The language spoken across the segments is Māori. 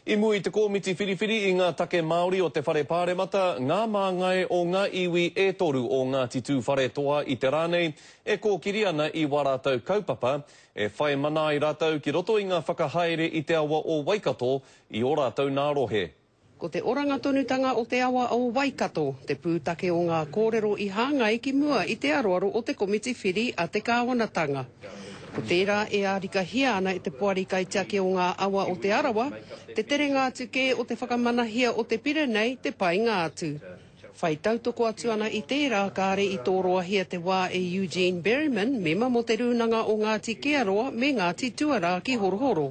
I mua i te komiti whiriwhiri i ngā take Māori o te Whare Pāremata, ngā māngai o ngā iwi e toru o Ngāti Tūwharetoa i te rā nei e kōkiri ana i wā rātou kaupapa, e whai mana ai rātou ki roto i ngā whakahaere i te awa o Waikato i ō rātou nā rohe. Ko te oranga tonutanga o te awa o Waikato te pūtake o ngā kōrero i hāngai ki mua i te aroaro o te komiti whiri a te kāwanatanga. Ko tērā e ārikahia ana e te Poari Kaitiaki o ngā Awa o Te Arawa te terenga atu kē o te whakamanahia o te pire nei te painga atu. Whai tautoko atu ana i tērā kāre i tōroahia te wā e Eugene Berryman, mema mō te Rūnanga o Ngāti Kearoa me Ngāti Tuarā ki Horohoro.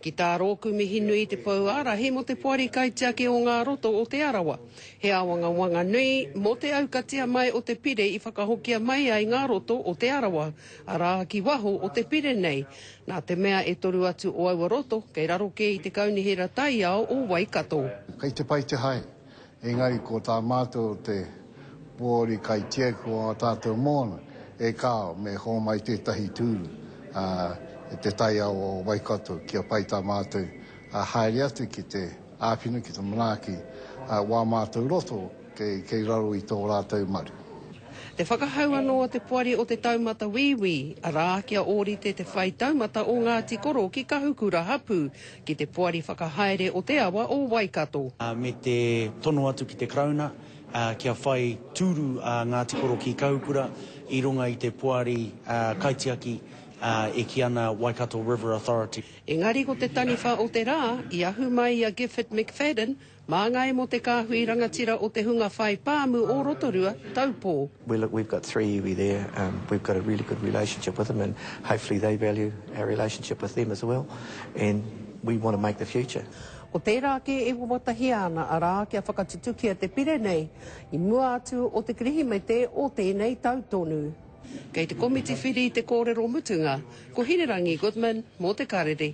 Ki tā rōku mihi nui te pou ārahi mō te Poari Kaitiaki o Ngā Roto o Te Arawa. He āwangawanga nui mō te aukatia mai o te pire i whakahokia mai ai Ngā Roto o Te Arawa, arā, ki waho o te pire nei, nā te mea e toru atu o aua roto kei raro kē i te Kaunihera Taiao o Waikato. Kei te pai te hae. Engari ko tā mātou te Poari Kaitiaki o ā tātou moana, e kāo, me hōmai tētahi tūru e te taiao o Waikato kia pai tā mātou haere atu ki te āwhina, ki te manaaki wā mātou roto kei raro i tō rātou maru. Te whakahau anō a te Poari o Te Taumata Wīwī, arā, kia ōrite te whai taumata o Ngāti Koro ki Kahukura hapū, ki te Poari Whakahaere o te Awa o Waikato. me te tono atu ki te Karauna kia whai tūru a Ngāti Koro ki Kahukura i runga i te poari kaitiaki e kī ana Waikato River Authority. Engari ko te taniwha o te rā, i ahu mai i a Gifford McFadden, Māngai mō te kāhui rangatira o te hunga whai pāmu o Rotorua, Taupō. We look we've got three iwi there um we've got a really good relationship with them and hopefully they value our relationship with them as well and we want to make the future. Ko tērā kē e wawatahia ana arā kia whakatutukia te pire nei i mua atu o te Kirihimete o tēnei tau tonu. Kei te komiti whiri te kōrero mutunga, ko Hinerangi Goodman mō te karere.